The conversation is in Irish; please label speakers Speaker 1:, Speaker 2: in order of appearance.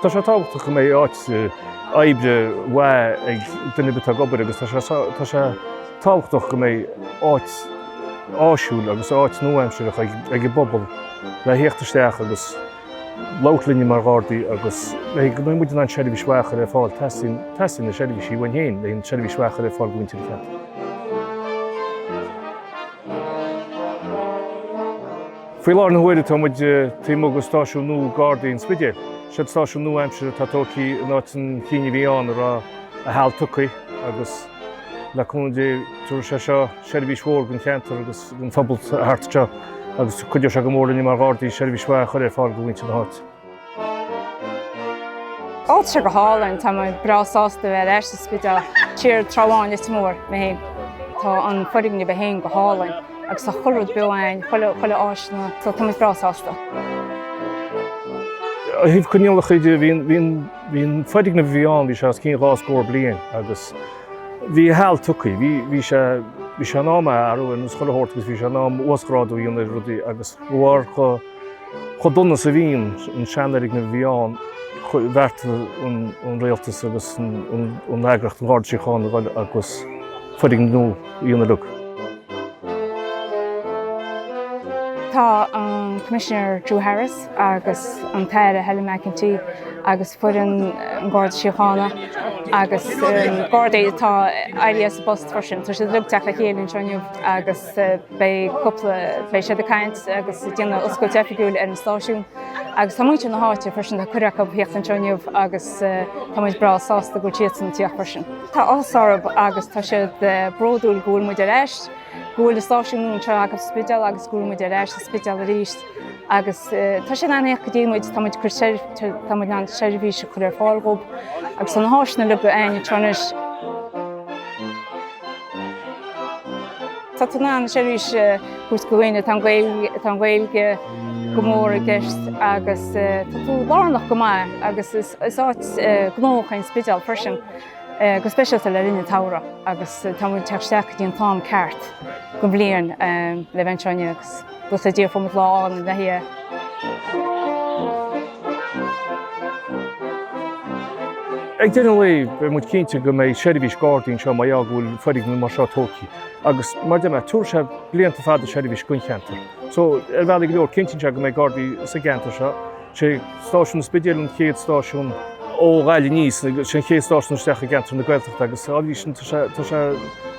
Speaker 1: Tá sé tábhachtach go mbeidh áit oibre mhaith ag duine ar bith atá ag obair agus tá sé tábhachtach go mbeidh áit áisiúil agus áit nua-aimsearach ag an bpobal le theacht isteach agus labhairt linne mar Ghardaí agus go mbeidh muid in ann seirbhís mhaith a chur ar fáil, teastaíonn, teastaíonn na seirbhísí uainn féin, le seirbhís mhaith a chur ar fáil do mhuintir an cheantair. Faoi láthair na huaire tá muid taobh amuigh de Stáisiún nua Gardaí an Spidéil. Seo'd stáisiún nua-aimseartha atá tógtha in áit an chinn a bhí ann a raibh a sheal tugtha agus le cúnamh Dé tabharfaidh sé seo seirbhís mhór don cheantar agus don phobal thart anseo agus cuideoidh sé go mór linne mar Ghardaí seirbhís mhaith a chur ar fáil do mhuintir na háite.
Speaker 2: Áit seo go hálainn, tá mé breá sásta bheith ar ais sa Spidéal, trí ráithe ann is mó mé féin. Tá an foirgneamh é féin go hálainn agus tá chuile rud nua ann, chuile áis ann, so tá mé breá sásta.
Speaker 1: Ó thaobh coinníollacha de, bhí an foirgneamh a bhí ann, bhí sé os cionn dhá scór bliain agus bhí a sheal tugtha. Bhí sé Bhí sé in am é athrú, nó scoil a thabhairt agus bhí sé in am uasghrádú a dhéanamh ar rudaí agus amharc Chomh dona is a bhí an seanfhoirgneamh a bhí ann, bheartaigh an rialtas agus an eagraíocht an Gharda Síochána a dhul agus foirgneamh nua a dhéanamh de.
Speaker 2: Tá an Coimisinéir Drew Harris agus an tAire Helen McEntee agus foireann an Gharda Síochána agus Gardaí atá éirithe as a bpost freisin, tá siad ag teacht le chéile anseo inniu agus Beidh siad ag caint agus ag déanamh oscailt oifigiúil ar an stáisiún agus tá muintir na háite freisin, tá cuireadh acu theacht anseo inniu agus tá muid breá sásta go bhfuil siadsan ag teacht freisin. Tá áthas orthu agus tá siad bródúil go bhfuil muid ar ais, go bhfuil an stáisiún nua anseo againn sa Spidéal agus go bhfuil muid ar ais sa Spidéal arís agus tá siad an-éacht go dtéann muid, tá muid ag cur seirbhís, tá muid in ann seirbhís a chur ar fáil dhób agus tá na háiseanna le go againn anseo anois. Tá tú in ann seirbhís a thabhairt do dhaoine, tá an Ghaeilge go mór i gceist agus tá tú lárnach go maith agus is áit gnóthach é an Spidéal freisin, go speisialta le linn an tsamhraidh agus tá muid ag teacht isteach go dtí an t-am ceart den bhliain le bheith ag traenáil agus. go sa dtír
Speaker 1: fomad lá álainn a bheith aige. Ag deireadh an lae, beidh muid cinnte go mbeidh seirbhís Gardaí anseo mar gheall go bhfuil foirgneamh mar seo tógtha agus, mar a deir mé, tabharfaidh sé blianta fada seirbhís don cheantar. So, ar bhealaí go leor, cinntíonn sé go mbeidh gardaí sa gceantar seo. Sé Stáisiún an Spidéil an chéad stáisiún ó Ghaillimh aníos agus sé an chéad stáisiún isteach i gceantar na Gaeltachta agus, ámh, arís sin, tá sé, tá sé,